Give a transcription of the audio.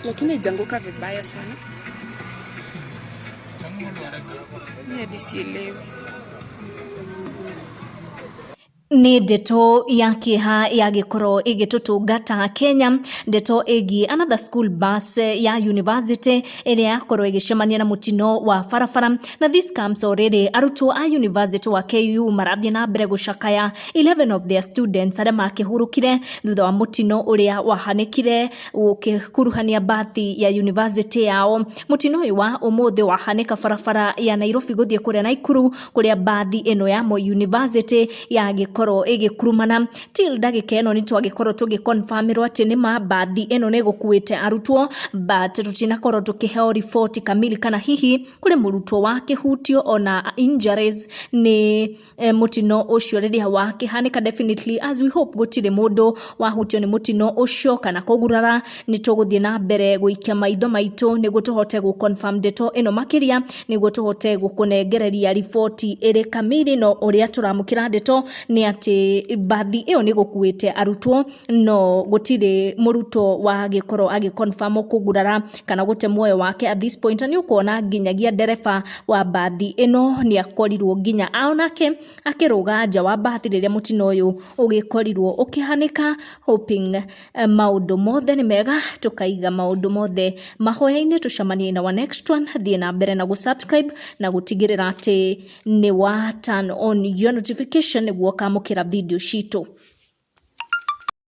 lakini haijanguka vibaya sana. Mimi hadi sielewi. nĩ ndeto ya kĩeha ya gĩkorwo ĩgĩtũtũngata kenya ndeto ĩgiĩ another school bus ya university ĩrĩa yakorwo ĩgĩcemania na mũtino wa barabara na this comes o rĩrĩ arutwo a university wa ku marathiĩ na mbere gũcakaya 11 of their students arĩa makĩhurũkire thutha wa mũtino ũrĩa wahanĩkire gũkĩkuruhania mbathi ya yunivasĩtĩ yao. Mũtino ũyũ wa ũmũthĩ wahanĩka barabara ya Nairobi gũthiĩ kũrĩa Naikuru kũrĩa mbathi ĩno ya Moi University yagĩkorwo ĩgĩkurumana. Till ndagĩka ĩno nĩtwagĩkorwo tũgĩ confirm ĩrwo atĩ nĩma mbathi ĩno nĩgũkuĩte arutwo but tũtinakorwo tũkĩheo riboti kamili kana hihi kũrĩ mũrutwo wakĩhutio ona injuries nĩ eh, mũtino ũcio rĩrĩa wakĩhanĩka definitely as we hope gũtirĩ mũndũ wahutio nĩ mũtino ũcio kana kũgurara nĩ tũgũthiĩ na mbere gũikia maitho maitũ nĩguo tũhote gũconfirm ndeto ĩno makĩria nĩguo tũhote gũkũnengereria riboti ĩrĩ kamiri no ũrĩa tũramũkĩra ndeto nĩ atĩ mbathi ĩyo nĩ gũkuĩte arutwo no gũtirĩ mũrutwo wagĩkorwo agĩconfirm kũgurara kana gũte muoyo wake at this point na nĩ ũkuona nginyagia ndereba wa mbathi ĩno nĩ akorirwo nginya onake akĩrũga nja wa mbathi rĩrĩa mũtino ũyũ ũgĩkorirwo ũkĩhanĩka hoping maũndũ mothe nĩ mega tũkaiga maũndũ mothe mahoya-inĩ tũcemanie in our next one thiĩ na mbere na gũ subscribe na gũtigĩrĩra atĩ nĩ wa turn on your notification nĩguo ũkamũkĩra video citũ.